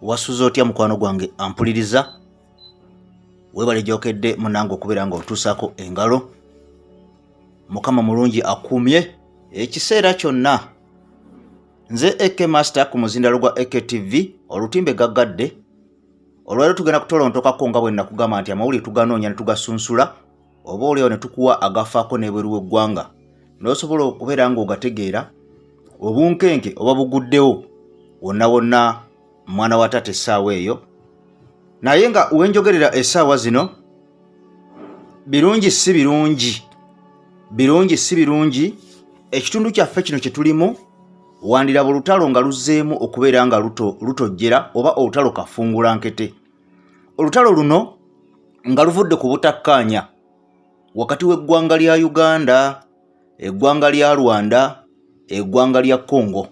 wasuze otya mukwano gwange ampuliriza webale gyokedde munange okubeera nga otuusako engalo mukama mulungi akuumye ekiseera kyonna nze ak master ku muzindalo gwa aktv olutimbe gaggadde olwaliro tugenda kutolontokako nga bwe nakugamba nti amawulire tuganoonya ne tugasunsula oba olyawo ne tukuwa agafaako n'ebweru w'eggwanga n'osobola okubeera ng'ogategeera obunkenke oba buguddewo wonna wonna mwana wa taata essaawa eyo naye nga wenjogerera essaawa zino birungi si birungi birungi si birungi ekitundu kyaffe kino kye tulimu wandiraba olutalo nga luzzeemu okubeera nga lutojjera oba olutalo kafungula nkete olutalo luno nga luvudde ku butakkaanya wakati w'eggwanga lya uganda eggwanga lya rwanda eggwanga lya congo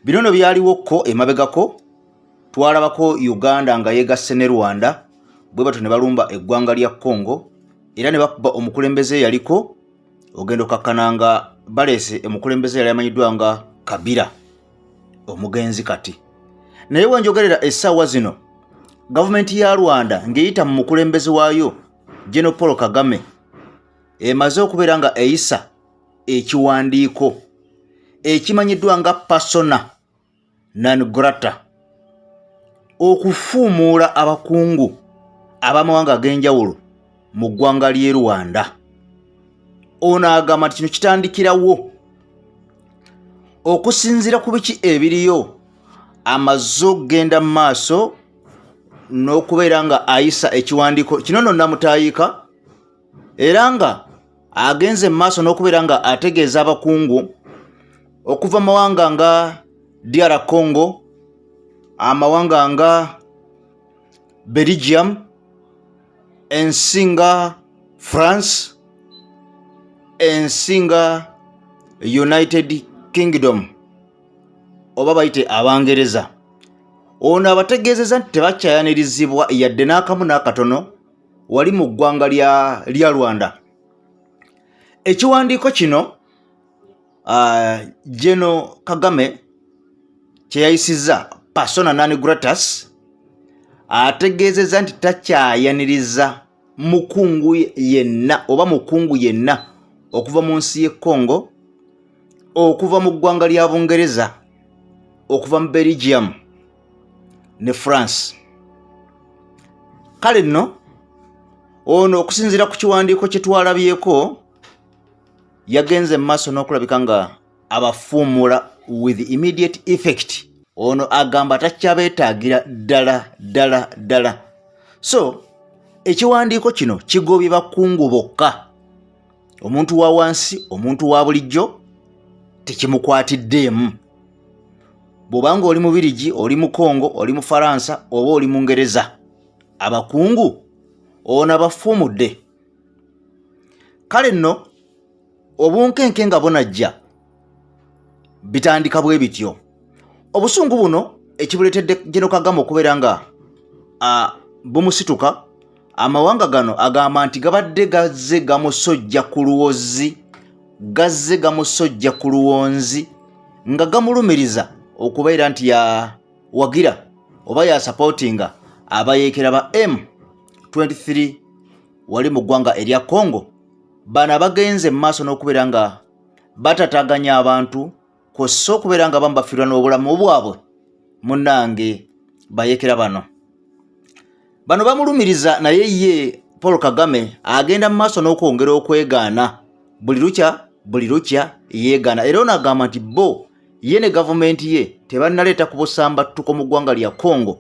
bino no byaliwo kko emabegako twalabako uganda nga yegasse ne rwanda bwe batyo ne balumba eggwanga lya congo era ne bakuba omukulembeze yaliko ogenda okakkana nga baleese omukulembeze yali amanyiddwa nga kabira omugenzi kati naye wenjogerera essaawa zino gavumenti ya rwanda ng'eyita mu mukulembeze waayo geno paul kagame emaze okubeera nga eyisa ekiwandiiko ekimanyiddwa nga pasona non grata okufuumuula abakungu ab'amawanga ag'enjawulo mu ggwanga ly'e rwanda ono agamba nti kino kitandikirawo okusinziira ku biki ebiriyo amaze okugenda mu maaso n'okubeera nga ayisa ekiwandiiko kino no namutayiika era nga agenze mu maaso n'okubeera nga ategeeza abakungu okuva mu mawanga nga DR Congo amawanga nga Belgium ensi nga France ensi nga United Kingdom oba bayite Abangereza ono abategeezeza nti tebakyayanirizibwa yadde n'akamu n'akatono wali mu ggwanga lya rwanda ekiwandiiko kino uh, geno kagame kyeyayisizza persona nani gratus ategeezezza nti takyayaniriza mukungu yenna oba mukungu yenna okuva mu nsi y'e congo okuva mu ggwanga lya bungereza okuva mu belgium ne france kale nno ono okusinziira ku kiwandiiko kye twalabyeko yagenze mu maaso n'okulabika nga abafuumuula with immediate effect ono agamba takyabeetaagira ddala ddala ddala so ekiwandiiko kino kigobye bakungu bokka omuntu wa wansi omuntu wa bulijjo tekimukwatiddeemu bw'oba nga oli mubirigi oli mu kongo oli mu faransa oba oli mu ngereza abakungu ona bafuumudde kale nno obunkenke nga bunajja bitandika bwe bityo obusungu buno ekibuleetedde Gen Kagame okubeera nga bumusituka amawanga gano agamba nti gabadde gazze gamusojja ku luwozi gazze gamusojja ku luwonzi nga gamulumiriza okubeera nti yawagira oba yasapootinga abayeekera ba M23 wali mu ggwanga erya Congo bano abagenze mu maaso n'okubeera nga batataganya abantu kwossa okubeera nga bamu bafiirwa n'obulamu bwabwe munange bayekera bano bano bamulumiriza naye ye paul kagame agenda mu maaso n'okwongera okwegaana buli lukya buli lukya yeegaana era ono agamba nti bo ye ne gavumenti ye tebannaleeta ku busambattuko mu ggwanga lya congo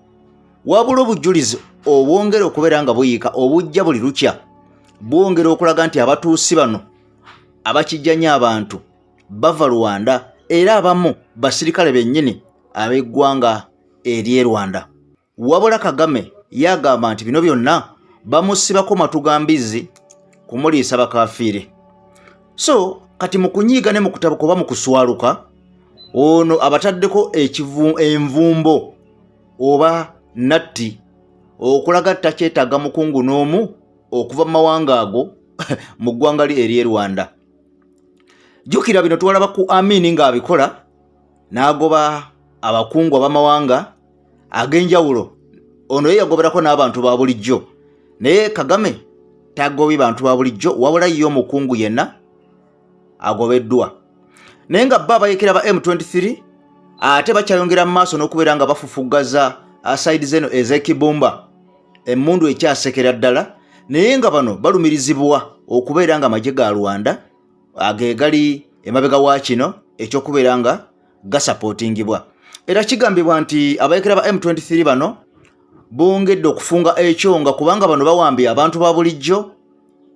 wabula obujulizi obwongera okubeera nga buyiika obujja buli lukya bwongera okulaga nti abatuusi bano abakijjanya abantu bava rwanda era abamu basirikale bennyini ab'eggwanga ery'e rwanda wabula kagame yagamba nti bino byonna bamusibako matu ga mbizzi kumuliisa bakafiire so kati mu kunyiiga ne mu kutabuka oba mu kuswaluka ono abataddeko envumbo oba natti okulaga takyetaaga mukungu n'omu okuva mu mawanga ago mu ggwanga lye ery'e rwanda jjukira bino twalaba ku amini ng'abikola n'agoba abakungu ab'amawanga ag'enjawulo ono ye yagoberako n'abantu ba bulijjo naye kagame tagobi bantu ba bulijjo wabula ye omukungu yenna agobeddwa naye nga bba abayekera ba m23 ate bakyayongera mu maaso n'okubeera nga bafufuggaza asaidi zeno ezekibumba emmundu ekyasekera ddala naye nga bano balumirizibwa okubeera nga amagye ga rwanda agegali emabega wa kino ekyokubeera nga gasapotingibwa era kigambibwa nti abayekera ba m23 bano bongedde okufunga ekyonga kubanga bano bawambye abantu ba bulijjo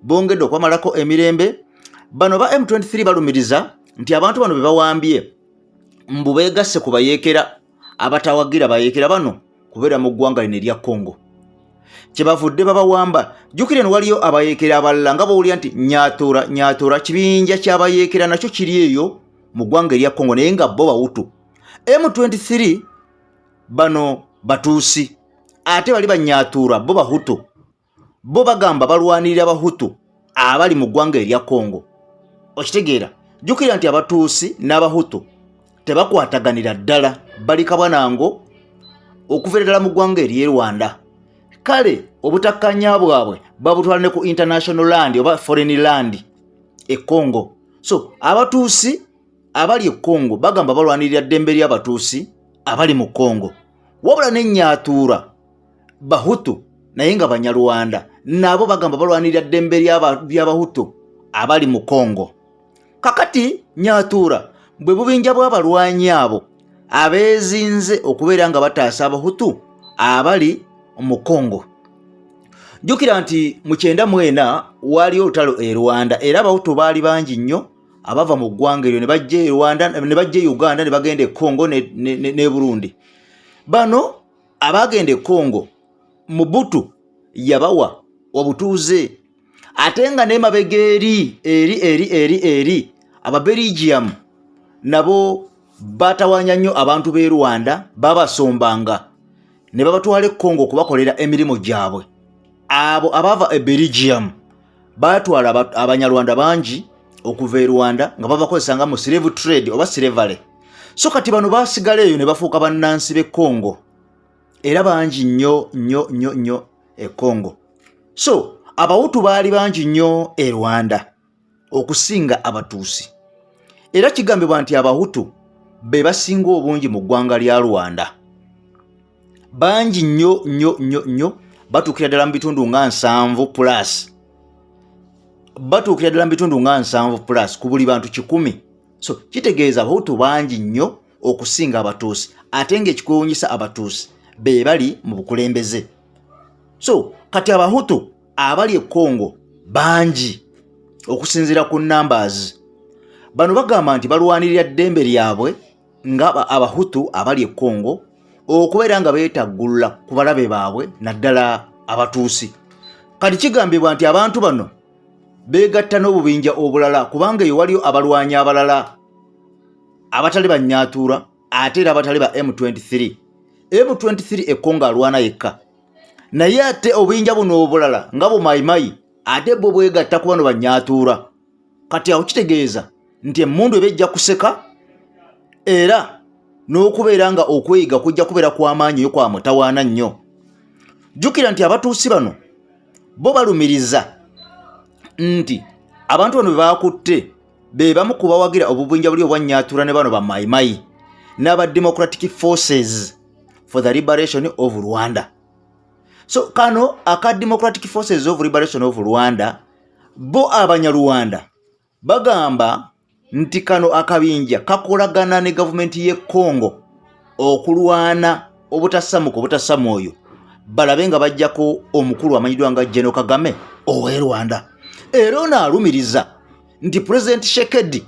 bongedde okwamalako emirembe bano ba m23 balumiriza nti abantu bano bebawambye mbu begasse ku bayeekera abatawagira bayeekera bano kubeera mu ggwanga lino erya congo kyebavudde babawamba jjukira eno waliyo abayeekera abalala nga bawulira nti nyatura nyatura kibinja kyabayeekera nakyo kiri eyo mu ggwanga erya congo naye nga bo bawutu m23 bano batuusi ate bali banyatura bo bahutu bo bagamba balwanirira abahutu abali mu ggwanga erya congo okitegeera jjukira nti abatuusi n'abahutu tebakwataganira ddala bali kabwanango okuveera ddala mu ggwanga ery'e rwanda kale obutakkanya bwabwe babutwala ne ku international land oba foreign land e congo so abatuusi abali e congo bagamba balwanirira ddembe ly'abatuusi abali mu congo wabula nennyatuura bahutu naye nga banyarwanda nabo bagamba balwanirira ddembe lyabahutu abali mu congo kakati nyatuura bwe bubinja bw'abalwanyi abo abeezinze okubeera nga bataasa abahutu abali mu congo jjukira nti mu kyenda mwena waaliyo olutalo e rwanda era abahutu baali bangi nnyo abava mu ggwanga eryo ne bajja e rwanda ne bajja e uganda ne bagenda e congo ne burundi bano abaagenda e congo mubutu yabawa obutuuze ate nga nemabega eri eri eri eri eri ababeligium nabo batawanya nnyo abantu b'e rwanda babasombanga ne babatwala e congo okubakolera emirimu gyabwe abo abava e beligium baatwala abanyarwanda bangi okuva e rwanda nga babakozesa nga mu slave trade oba slavery so kati bano basigala eyo ne bafuuka bannansi b'e congo era bangi nnyo nnyo nnyo nnyo e congo so abawutu baali bangi nnyo e rwanda okusinga abatuusi era kigambibwa nti abahutu be basinga obungi mu ggwanga lya rwanda bangi nnyo nnyo nnyo nnyo batuukira ddala mu bitundu nga nsanvu plus batuukira ddala mu bitundu nga nsanvu plus ku buli bantu kikumi so kitegeeza abahutu bangi nnyo okusinga abatuusi ate ng'ekikwewunyisa abatuusi be bali mu bukulembeze so kati abahutu abali e congo bangi okusinziira ku numbers bano bagamba nti balwanirira ddembe lyabwe nga abahutu abali e congo okubeera nga beetaggulula ku balabe baabwe naddala abatuusi kati kigambibwa nti abantu bano beegatta n'obubinja obulala kubanga eyo waliyo abalwanyi abalala abatali banyaatuula ate era abatali ba m23 m23 ekongo alwana yekka naye ate obuyinja buno obulala nga bumayimayi ate bwo bwegatta ku bano banyaatuula kati awo kitegeeza nti emmundu eba ejja kuseka era n'okubeera nga okweyiga kujja kubeera kw'amaanyi yo kwa mutawaana nnyo jjukira nti abatuusi bano bo balumiriza nti abantu bano be baakutte be bamu ku bawagira obubinja buli obwannyatura ne bano bamayimayi n'aba democratic forces for the liberation of rwanda so kano aka democratic forces of liberation of rwanda Bo Abanyarwanda bagamba nti kano akabinja kakolagana ne gavumenti y'e Congo okulwana obutasamuka obutasama oyo balabe nga bajjako omukulu amanyiddwa nga Geno Kagame ow'e Rwanda era ono alumiriza nti Pulezidenti Shekedi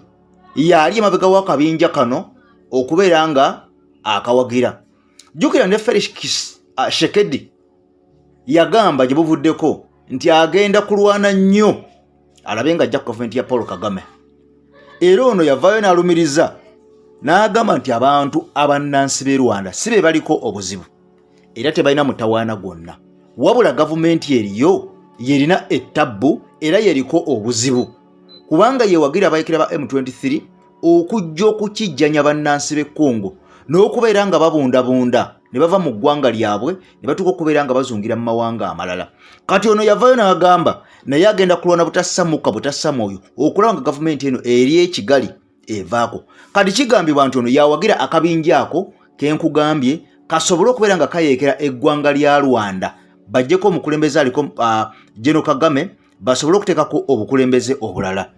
yaali emabega w'akabinja kano okubeera nga akawagira jjukira ne Felix ah, Shekedi yagamba gye buvuddeko nti agenda kulwana nnyo alabe nga ajja ku gavumenti ya paul kagame era ono yavaayo n'alumiriza n'agamba nti abantu abannansi b'e rwanda si be baliko obuzibu era tebalina mutawaana gwonna wabula gavumenti eriyo yerina ettabbu era yeriko obuzibu kubanga yewagira abayekera ba m23 okujja okukijjanya bannansi b'e congo n'okubeera nga babundabunda ne bava mu ggwanga lyabwe ne batuuka okubeera nga bazungira mu mawanga amalala kati ono yavayo n'agamba naye agenda kulwana butasamuka butasama oyo okulaba nga gavumenti eno eri ekigali evaako kati kigambibwa nti ono yawagira akabinja ako kenkugambye kasobole okubeera nga kayeekera eggwanga lya rwanda bajjeko omukulembeze aliko uh, geno kagame basobole okuteekako obukulembeze obulala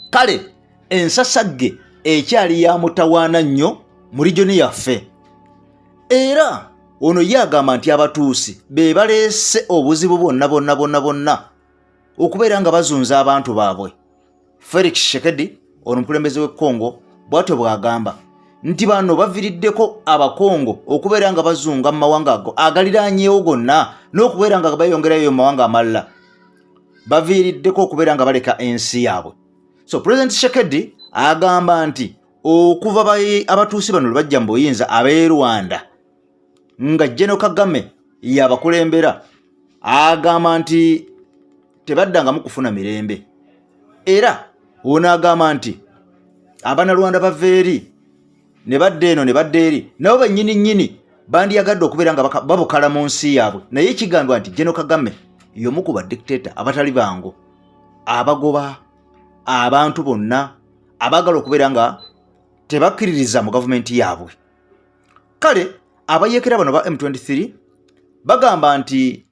kale ensasagge ekyali ya mutawaana nnyo mu lijoni yaffe era ono ye agamba nti abatuusi be baleese obuzibu bwonna bwonna bwonna bwonna okubeera nga bazunza abantu baabwe felix shekedi ono mukulembeze w'e congo bwatyo bw'agamba nti bano baviriddeko abakongo okubeera nga bazunga mu mawanga ago agaliranyewo gonna n'okubeera nga bayongerayo mu mawanga amalala baviiriddeko okubeera nga baleka ensi yaabwe so president shekedi agamba nti okuva abatuusi bano lwebajja mu buyinza ab'e rwanda nga jeno kagame yabakulembera agamba nti tebaddangamu kufuna mirembe era ono agamba nti abanalwanda bava eri ne badda eno ne badda eri nabo bennyini nnyini bandiyagadde okubeera nga babukala mu nsi yaabwe naye kigambibwa nti geno kagame yomu ku badictato abatali bangu abagoba abantu bonna abaagala okubeera nga tebakkiririza mu gavumenti yaabwe kale abayekera bano ba m23 bagamba nti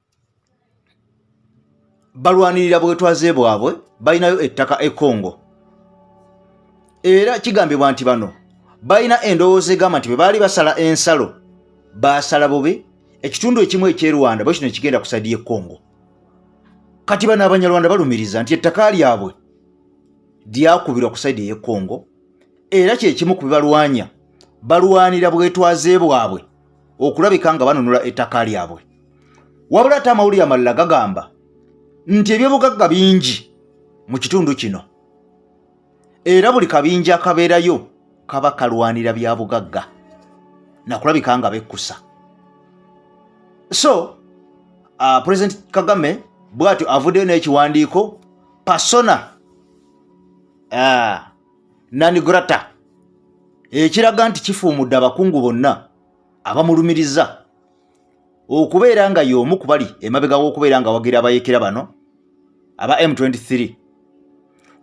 balwanirira bwetwaze bwabwe balinayo ettaka e congo era kigambibwa nti bano balina endowooza egamba nti bwe baali basala ensalo baasala bubi ekitundu ekimu eky'e rwanda bwe kino ekigenda ku saidi y'e congo kati bano abanyarwanda balumiriza nti ettaka lyabwe lyakubirwa ku saidi ey'e congo era kye kimu ku bibalwanya balwanira bwetwaze bwabwe okulabika nga banunula ettaka lyabwe wabula ate amawulire amalala gagamba nti ebyobugagga bingi mu kitundu kino era buli kabinja akabeerayo kaba kalwanira bya bugagga nakulabika nga bekkusa so uh, president kagame bwatyo avuddeyo n'ekiwandiiko pasona uh, nanigrata ekiraga nti kifuumudde abakungu bonna abamulumiriza okubeera nga y'omu ku bali emabega w'okubeera nga wagira abayekera bano aba m23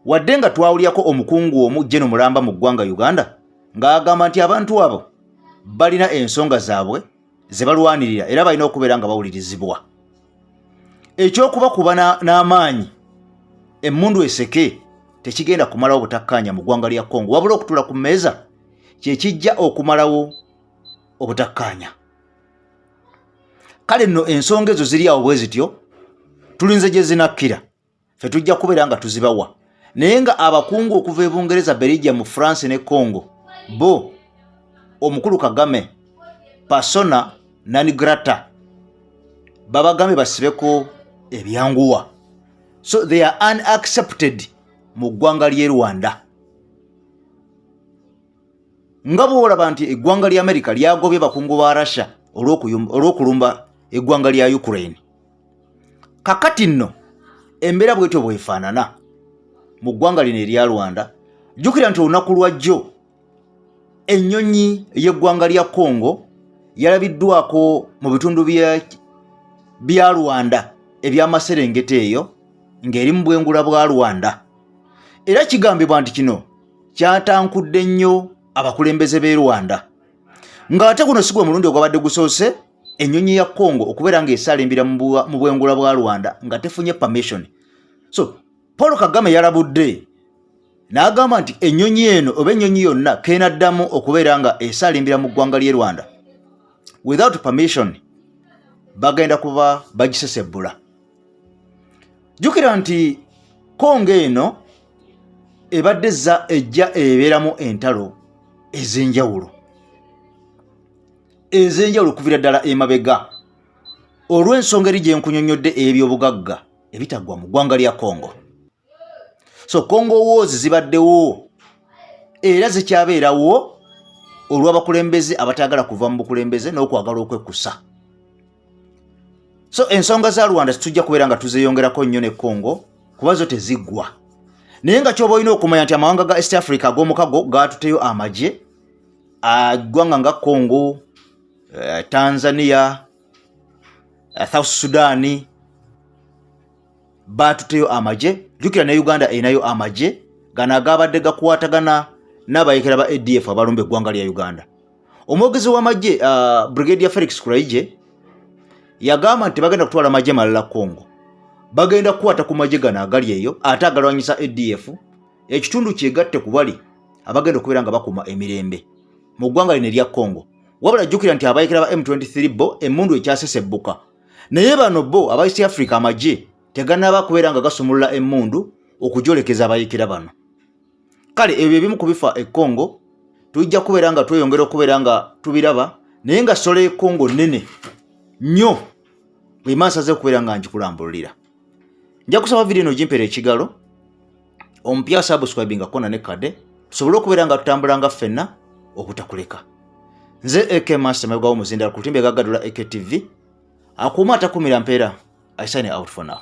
wadde nga twawulyako omukungu omu jeno mulamba mu ggwanga uganda ng'agamba nti abantu abo balina ensonga zaabwe ze balwanirira era balina okubeera nga bawulirizibwa ekyokuba kuba n'amaanyi emmundu eseke tekigenda kumalawo butakkaanya mu ggwanga lya congo wabula okutula ku mmeeza kyekijja okumalawo obutakkaanya kale nno ensonga ezo ziri awo bwe zityo tulinze gye zinakkira fe tujja kubeera nga tuzibawa naye nga abakungu okuva e bungereza belgia mu france ne congo bo omukulu kagame persona nanigrata babagambye basibeko ebyanguwa so they are unaccepted mu ggwanga ly'e rwanda nga bwolaba nti eggwanga lya amerika lyagobye bakungu ba russia olw'okulumba eggwanga lya ukraine kakati nno embeera bwetyo bwefaanana mu ggwanga lino erya rwanda jjukira nti olunaku lwajjo ennyonyi y'eggwanga lya congo yalabiddwako mu bitundu bya rwanda ebyamaserengeta eyo ng'eri mu bwengula bwa rwanda era kigambibwa nti kino kyatankudde nnyo abakulembeze b'e rwanda ng'ate guno si gwe mulundi ogwabadde gusoose ennyonyi ya congo okubeera ng'esaala embira mu bwengula bwa rwanda nga tefunye permission so paul kagame yalabudde n'agamba nti ennyonyi eno oba ennyonyi yonna keenaddamu okubeera nga esaala embira mu ggwanga ly'e rwanda without permission bagenda kuba bagisesebbula jjukira nti kongo eno ebadde ejja ebeeramu entalo ez'enjawulo ez'enjawulo okuvira ddala emabega olw'ensonga eri gye nkunyonnyodde ey'ebyobugagga ebitaggwa mu ggwanga lya congo so congo woozi zibaddewo era zikyabeerawo olw'abakulembeze abataagala kuva mu bukulembeze n'okwagala okwekkusa so ensonga za rwanda tujja kubeera nga tuzeyongerako nnyo ne congo kuba zo teziggwa naye nga kyoba olina okumanya nti amawanga ga east africa ag'omukago gaatuteyo amagye eggwanga nga congo eh, tanzania eh, south sudan baatuteyo amagye jukira ne uganda erinayo amagye gano agabadde gakwatagana n'abayekera ba adf abalumba eggwanga lya uganda omwogezi w'amagye uh, brigade ya felix kuraije yagamba nti bagenda kutwala amagye malala congo bagenda kukwata ku magye gano agali eyo ate agalwanyisa adf ekitundu kyegatte ku bali abagenda okubeera nga bakuuma emirembe mu ggwanga lino erya congo wabula jjukira nti abayekera ba m23 bo emmundu ekyasesebbuka naye bano bo aba east africa amagye teganaba kubeera nga gasumulula emmundu okujolekeza abayekera bano kale ebyo ebimu ku bifa e congo tujja kubeera nga tweyongera okubeera nga tubiraba naye nga sola e congo nnene nnyo bwemansaze okubeera nga ngikulambululira nja kusaba vidiyo eno ogimpera ekigalo omupya subscribe nga kona ne kade tusobole okubeera nga tutambula nga ffenna obutakuleka nze ak master mebwawo muzindala ku lutimbe gagadula aktv akuuma atakumira mpeera i sign out for now